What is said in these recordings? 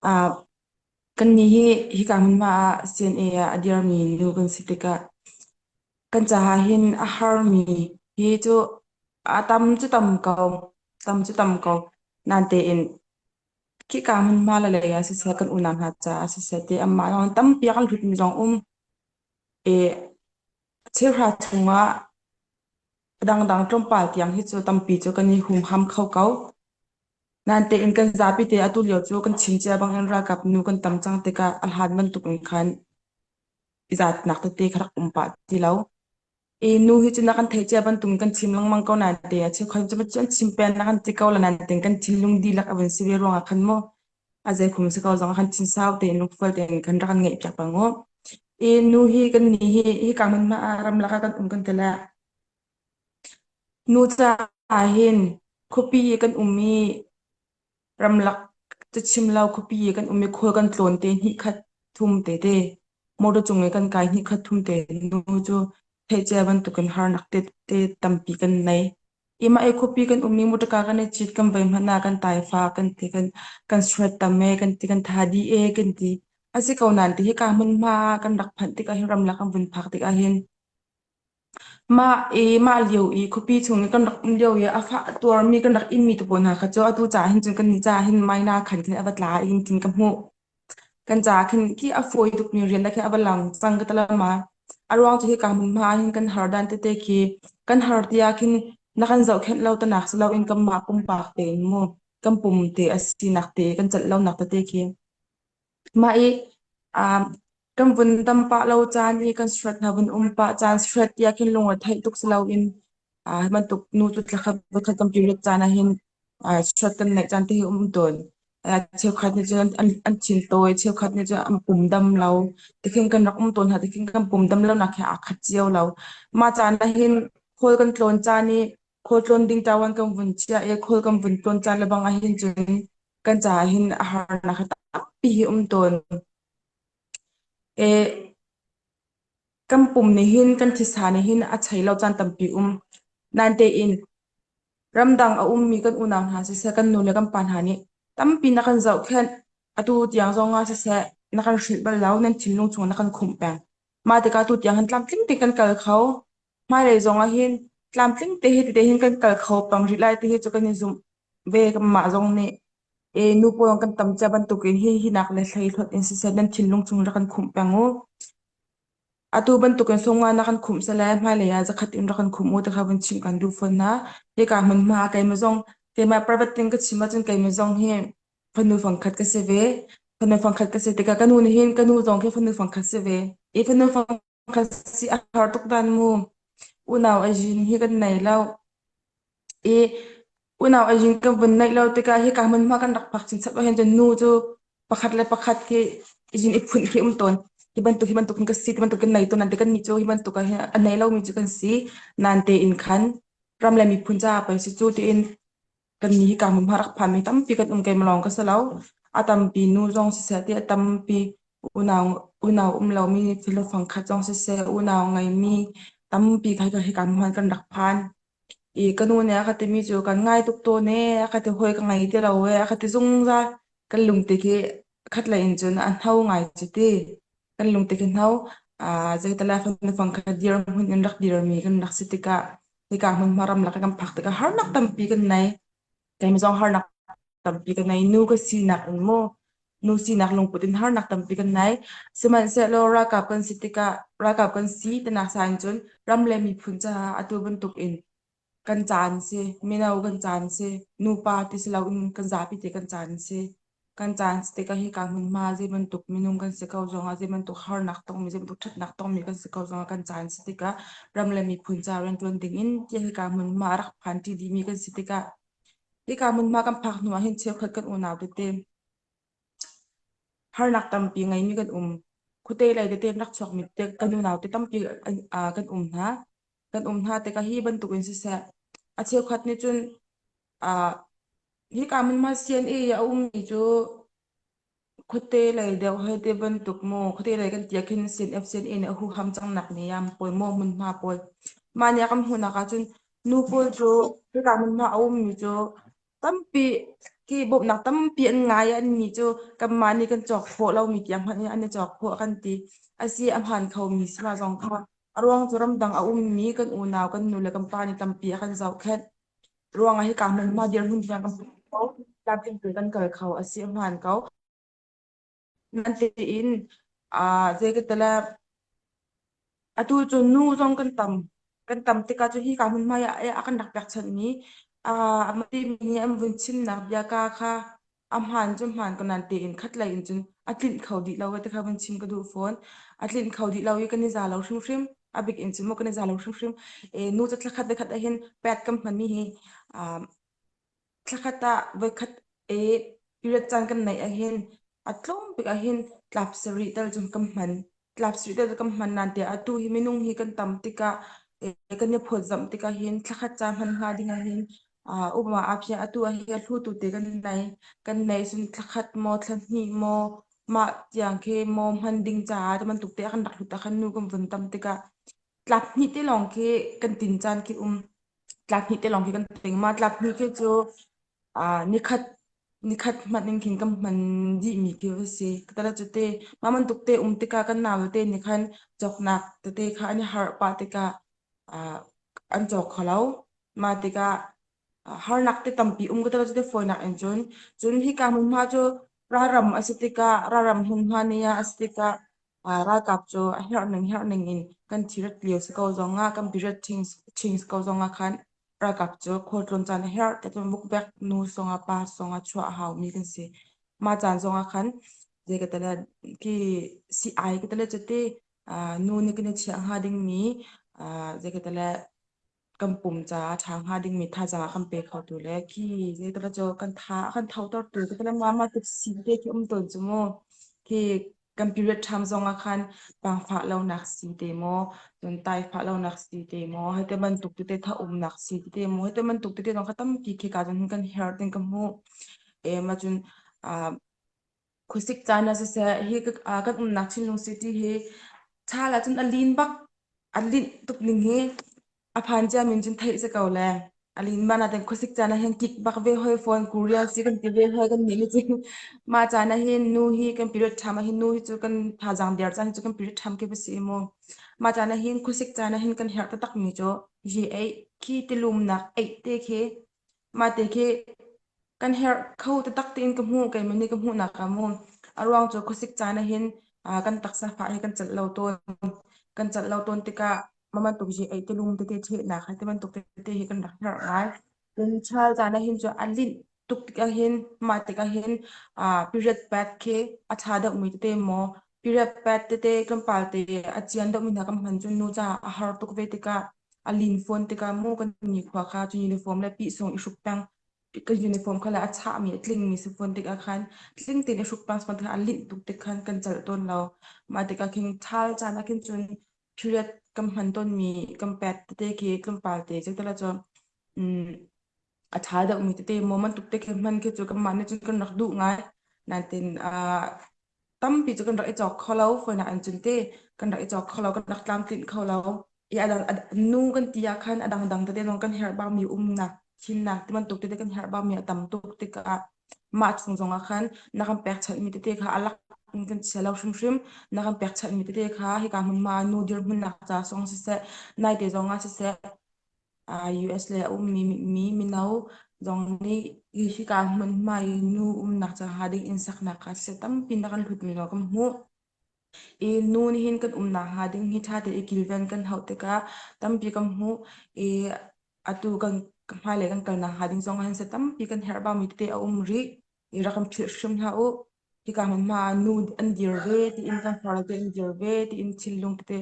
Ah, kannih hi hika hmunhma ah CNA ah a dirmi nu kan si tikah kan caah hin a harmi hi cu a tam cu tam ko, tam cu tam ko. Nan tein khika hmunhma le lei ah siseh kan unau hna caah siseh ti amah lawng tampi a kan hlutmi zong um i thilhra chungah Dangdang tlawmpal tiang hi cu tampi cu kan i humham kho ko. Nain tein kan zapi te atu lio cu kan chim cia bangin ralkap nu kan tam cang tikah a hlan bantuk in khan i zatnak tete kha rak um pah ti lo. I nu hi cu na kan theih cia bantuk in kan chim lengmang ko nain te a cheu khan cu an chim peng na kan ti ko la nain tein kan thinlung dihlak a vun si ve ruangah khan maw A zeikhum si ko zong han thin sau tein lungfual tein kan rak an ngeih piak pang u. I nu hi kan ni hi hi ka man ma ram laka kan um kan tila nu ca hin khupi kan um i ramlak cachim lo khupi kan um i khul kan tlawn te ni khat thum te te motor cung i kan kai ni khat thum te nu cu theicia bantukin har nak te te tampi kan nei Ima e khupi kan umning mutaka kan i chit kan vai hmana kan taifa kan ti kan kan suat tam e kan ti kan tha di e kan ti asi ko nan ti hi ka mun ma kan rak phan tik ahin ram la kan vun phak tik ahin ma e ma liu i khupi chung kan rak um liu i afa tuar mi kan rak in mi tu po na kha cho atu cha hin cun kan ni cha hin mai na khan khan avat la in tin ka mu kan ca khin ki a fawi tukmi rian da khin a va lang cang ka talama a ruang cu hi kan hmun hma hin kan har dan tete ki kan har tia khin na kan zoh khenh lo tanak si loin kan mah pumpak te in mu kan pum te a si nak te kan cat lo nak tete ki mah i um Kan vun tam pah lo caan i kan surat hna vun um pah caan surat ti ahkhin lung a theih tuk si loin uh, bantuk nu tu tlakhat vokhat kan period caan ahhin uh, surat kan neih caan te hi um tawn uh, cheukhat nih cun an, an chin tawi cheukhat nih cun an pum dam lo tikhin kan rak um tawn hna tikhin kan pum dam lo nak he aa khat cio lo mah caan ahhin khawl kan tlawn caan i khawl tlawn ding tawan kan vun chia i khawl kan vun tlawn caan lebang ahhin cun kan ca ahhin a harnak he tampi hi um tawn E, kan pum nih hin kan thisa nih hin a chei lo caan tampi um. Nain tein ramdang a ummi kan unau hna siseh, kan nu le kan pa hna nih tampi na kan zohkhenh. Atu tiang zongah siseh, na kan hrilh bal lo, nan thinlung chung na kan khumh peng. Mah tikah atu tiang hin tlamtling tein kan kal kho. hmailei zong ah hin tlamtling te hi tete hin kan kal kho pang rih lai ti hi cu kan i zumh ve mah zong nih e nu pawl kan tam cia bantuk in hi hi nak le hlei hlot in siseh nan thinlung chung rak kan khumh peng u atu bantuk in somnga na kan khumh sa le hmailei ah zakhat in rak kan khumh u ti kha vun chim kan duh fawn hna hi ka hmun hma keima zong keima private ting ka chim ahcun keima zong hi fanu fangkhat ka si ve fanu fangkhat ka si tikah ka nu nih hin ka nu zong khi fanu fangkhat si ve i fanu fang ka si a har tuk dan mu unau azin hi kan nei lo i unau azin ka vun naih lo tikah hi ka hmun hma kan rak phak chin chap ahhin cun nu cu pakhat le pakhat hi izin i phun khi um tawn hi bantuk hi bantuk hin ka si ti bantuk kan nei ton nan te kan ni cu hi bantuk hin a nei lomi cu kan si nan te in khan ram le miphun ca pa si cu tiin kan ni ka hmu rak phan mi tampi kan um keim lawng ka si lo a tampi nu zong siseh ti a tampi unau unau um lo mi thilo fangkhat zong siseh unau ngei mi tampi kha ka hi kan huan kan rak phan i ka nu nih a ka ti mi cu kan ngai tuk tawn e a ka ti hoi ka ngei ti lo e a ka ti zungzal kan lungte khi khat lei in cun an hau ngai cu ti kan lungte khi hau a zeitala fanu fangkhat dir hmun in rak dir mi kan rak si tikah Nika hmunhma ramlak kan phak tikah harnak tampi kan nei. Keim zong harnak tampi kan nei. Nu ka sinak in maw nu sinak lungput in harnak tampi kan nei. Sihmanhsehlaw ralkap kan si tikah ralkap kan si tinak sa in cun ram le miphun caah atu bantuk in kan caan si. Mino kan caan si. Nupa ti si loin kan zapi te kan caan si. Kan caan si tikah hika hmunhma zeibantuk minung kan si ko zongah, zeibantuk harnak tongmi, zeibantuk ṭhatnak tongmi kan si ko zongah kan caan si tikah ram le miphun ca rianṭuan dingin tiah hika hmunhma a rak phanṭi dihmi kan si tikah hika hmunhma kan phak hnuah hin cheukhat kan unau tete harnak tampi ngeimi kan um. Khuate lei tete in rak chuakmi tete kan unau te tampi kan um hna. kan um hna tikah hi bantuk in siseh a cheukhat nih cun ah hika mun ma CNA a ummi cu khuate lei deuh hei te bantuk maw khuate lei kan tia khin sin F sin in a hu ham cang nak ni am pawl maw mun hma pawl mania kam hunak ah cun nu pawl cu hika mun hma a ummi cu tampi ki bawmhnak tampi an ngai i an ni cu kanmah nih kan cawk khawh lomi tiang hmanh in an i cawk khawh kan ti a si a hmaan khomi si hna zong kha a ruang cu ramdang a ummi kan unau kan nu le kan pa nih tampi a kan zohkhenh ruangah hi kaa hmanma dirhmun tiang kan hmu kho tlamtling tu kan kal kho a si a hmaan ko Natein ah zei ka tala atu cu nu zong kan tam kan tam tikah cu hi ka hmun hmai ah a kan rak pekchanh mi a mati mi nih an vun chimnak bia ka kha a hmaan cu hmaan ko nan tein khat lei in cun a tlinh kho dih lo te kha vun chim ka duh fawn a tlinh kho dih lo i kan i za lo hrimhrim a bik in cun maw kan i za lo hrimhrim e nu ca thla khat le khat ah hin pet kam hman mi hi Thlakhat ah voikhat et period caan kan neih ahhin a tlawm bik ahhin tlap sarih tal cun kan hman. Tlap sarih tal kan hman nante atu hi minung hi kan tam tikah eh, kan i phawtzamh tikah hin thlakhat ca hman hnga ding ahhin uh, uma apia atu ahhin a hlutu te kan nei. Kan nei cun thlakhat maw thlahnih maw mah tiang ke maw hman ding caah teman tuk te akan rak hlut akan nu kan vun tam tikah tlap hnih te lawng khi kan tin caan khi um. tlak hnih te lawng khi kan ting ma tlak hnih khi cu uh, nikhat nikhat hmat ning khin kan man di mi ki va si tala chu te ma man tuk te um te ka kan naw te ni khan chok nak te te kha ani har pa te ka uh, an chok kholo ma te ka har nak te tampi um ko tala chu te foi nak en chun chun hi ka mun ma chu Raram a si tikah, raram hmunhma ni ah a si tikah, ah, ralkap cu a herhning herhning in kan thirat lio si ko zong ah, kan period change ko zong ah khan, ralkap cu khualtlun caan a herh, tetum bukbek nu song a pa song a chua a hau mi kan si. Ma caan zong ah khan, je ka tala, ki si ai ka tala cuti, nu ni kan i chiah hnga ding mi, je ka tala, kan pum caah ṭha hnga dingmi thazaang kan pe kho tu le khi zeitala cu kan tha kan thoter tu tetala ma ma tuk si te khi um ton chu mu khi kan period time zong ah khan pangfa lo nak si te mo ton tai fa lo nak si te mo hete man tuk te tha um nak si te mo hete man tuk te tong khatam ki khi ka jon kan her ting ka mu e ma chun a Khusik caan ah siseh, hi ah kan umnak Chinlung City hi thal ahcun a lin bak, a linh tuk ning hi a phan cia min cun theih si ko le. A lin man ahcun khusik caan ah hin kik bak ve hoi phone Korea si kan ti ve hoi kan nih nih cun. Mah caan ah hin nu hi kan period tham ah hin nu hi cu kan thazaang biar caan hi cu kan period tham khi basi mu. Mah caan ah hin khusik caan ah hin kan herh tatak mi cu G8 khi tilumnak 8 te khi Mate khi kan herh kho te tak tiin ka hmuh kei mani ka hmuh nak ka mu. A ruang cu khuasik caan ah hin ah, kan taksa fa hi kan cat lo tawn. Kan cat lo tawn tikah maman tuk ji ei tilung tete the nak hai te bantuk tete hi kan rak herh ngai. Cun chal caan ah hin cu a lint tuk tik ah hin mate ka hin ah period pack khi a tha deuh mi tete maw Period pet tete kan palte a chian dok mina kan hman cun nu ca a har tuk ve tikah a lin phone tikah mu kan ni khua kha cu uniform le pi sung i hruk pang ka uniform khala a chah mi tling mi si phone tikah khan tling tin i hruk pang phone tikah a lin tuk tik khan kan chal ton lo ma tikah khin thal cana khin cun period kam hman ton mi kam pet tete ki tlum palte cetala cho a tha deuhmi tete maw man tuk te khe hman khi cu kanmah nih cun kan rak duh ngai nain ah tampi cu kan rak i cawk kho lo foina an cun te kan rak i cawk kho lo kan rak tlamtlinh kho lo i a dang nu kan ti ah khan a dangdang tete lawng kan herh bangmi umnak thinnak ti bantuk tete kan herh bangmi a tam tuk tikah mah chung zong ah khan na kan pekchanhmi tete kha a lak in kan chia lo hrimhrim na kan pekchanhmi tete kha hika hmunhma nu dirhmun nak ca song siseh naite zong ah siseh US le a ummi mi mino zong nih hika hmunhma i nu umnak caah ding inn saknak ah siseh tampi na kan hlutmi lo kan hmuh. I nu nih hin kan umnak hnga ding hi ṭha te i kilven kan hauh tikah tampi kan hmuh i atu kan hmailei kan kalnak hnga ding zong ah hin siseh tampi kan herh baumi te a um rih i rak kan philh hrim hlah u. Hika hmunhma ah nu an dir ve, tiin tangkhar te an dir ve, tiin thinlung te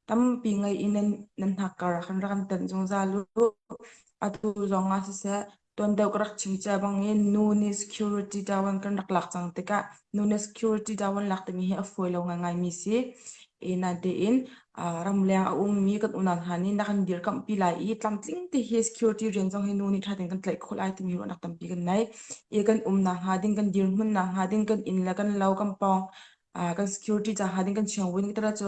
tampi ngei in nan, nan hnak kar kan rak an tanh zungzal u. Atu zong ah siseh, tuan deuh ka rak chim cia bang in nu nih security tawan kan rak lak cang tikah nu nih security tawan lak timi hi a fawi lo ngaingai mi si. Ina tein Ah, ramleng a ummi kan unau hna nih na kan dirkamhpi lai i tlamtling te hi security rian zong hi nu nih thatin kan tlaih khawh lai timi ruahnak tampi kan nei. I kan um nak hnga ding, kan dirhmun nak hnga ding, kan inn le kan lo, kan pawng, ah, kan security ca hnga ding, kan siangwin kita ra cu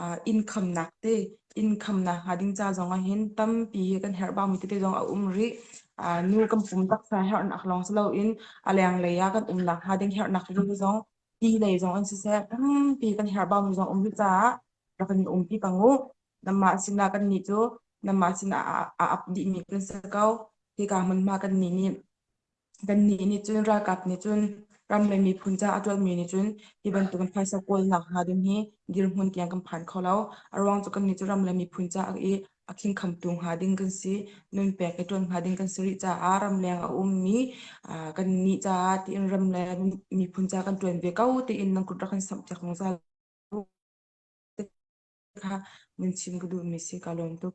ah, income nak te, income nak hnga ding ca zong ah hin tampi hi kan herh baumi tete zong a um rih. Ah, nu kan pum taksa herh nak lawng si lo in a leng lei ah kan um nak hnga ding herh nak rih zong ti lei zong an siseh ti kan herhbau zong um rih caah rak kan umpi pang u nanmah sinah kannih cu nanmah sinah a ap dihmi kan si ko hika hmunhma kannih nih kannih nih cun ralkap nih cun ram le miphun ca a ṭuanmi nih cun hi bantukin phaisa kawlnak hna ding hi dirhmun tiang kan phan kho lo a ruang cu kannih cu ram le miphun ca i a khingkhamtu hnga ding kan si nunpek i tuan hnga ding kan si rih caah ramleng a ummi kan nih caah tiin ramleng miphun ca kan tuan ve ko tiin nan kut rak kan samh chak zong kha mun chim ka duhmi si ka lawm tuk